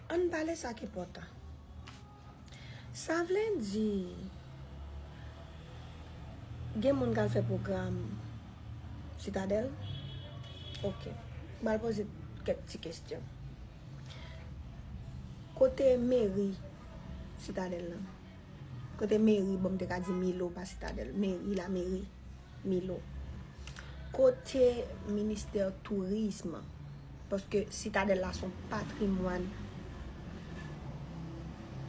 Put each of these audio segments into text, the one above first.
An n pale sa k enpòtan. Sa vle di gen moun k al fè pwogram Sitadèl? Ok. M al poze kèk ti kesyon. Kote meri Sitadèl la? Kote meri, bon m te ka di Milo pa Sitadèl. Meri, lameri Milo. Kote ministè tourism? Paske sitadèl la son patrimwàn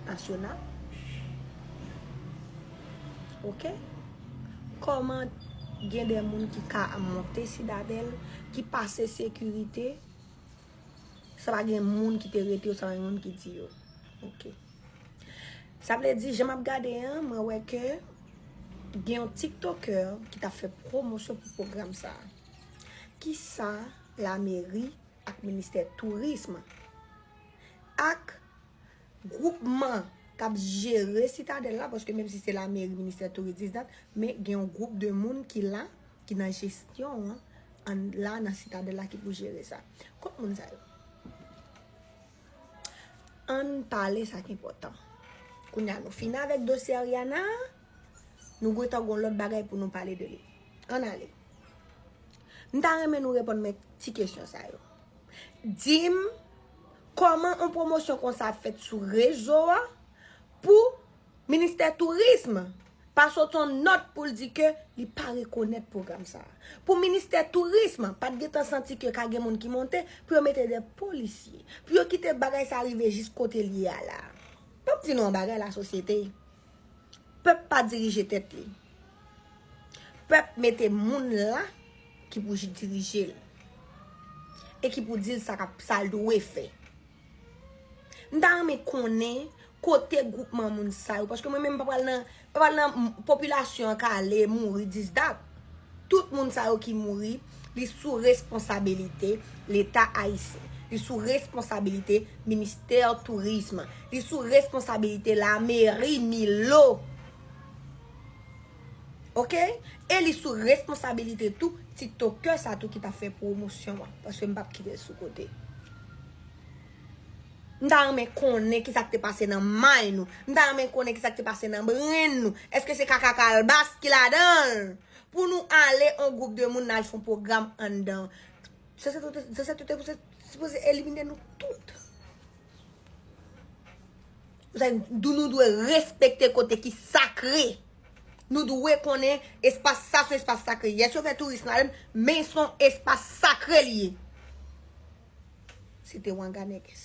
nasyonal. Ok? Koman gen de moun ki ka monte sitadèl, ki pase sekirite, sa pa gen moun ki te rete yo, sa pa gen moun ki di yo. Ok. Sa vle di jan map gade an mwen wè ke gen yon tiktokè ki ta fè pwomosyon pou pwogram sa. Ki sa la meri ak ministè tourism ak gwoupman kap jere sitadèl la paske menm si se la meri ministè touris dis dat men gen yon gwoup de moun ki la ki nan jesyon an la nan sitadèl la ki pou jere sa. Kot moun sa yo? Ann pale sa k enpòtan. Kounye a nou fini avèk dosye Ariana a, nou gentan gon lòt bagay pou nou pale de li. Ann ale. M ta renmen nou reponn mwen ti kesyon sa yo. Di m, kòman yon pwomosyon konsa ap fèt sou rezo a pou Ministè Tourism pa sot yon nòt pou l di ke li pa rekonèt pwogram sa a. Pou Ministè Tourism pa t gentan santi ke ka gen moun ki monte, pou yo mete de polisye. Pou yo kite bagay sa a rive jis kote l ye a la a. Fò m di nou yon bagay lasosyete, pèp pa dirije tèt li. Pèp mete moun la ki pou dirije l. E ki pou di l sa l dwe fè. M ta renmen konnen kote gwoupman moun sa yo. Paske mwen menm m pa pral nan, pa pral nan popilasyon an ka ale mouri dis dat. Tout moun sa yo ki mouri, li sou responsabilite leta ayisyen. Li sou responsabilite ministè tourism. Li sou responsabilite lameri milo. Ok e li sou responsabilite tou tiktokè sa tou ki ta fè pwomosyon an paske m pap kite l sou kote m ta renmen konnen ki sa k te pase nan may nou m ta renmen konnen ki sa k te pase nan brenn nou èske se kaka kalbas ki ladan l pou nou ale on gwoup de moun n al fon pwogram anndan zè zè tout te sipoze elimine nou tout. Nou dwe respekte kote ki sakre. Nou dwe konnen espas sa se yon espas sakre. Yes yo fè touris nan ale men son espas sakre li ye. Se te Ouanganèkès.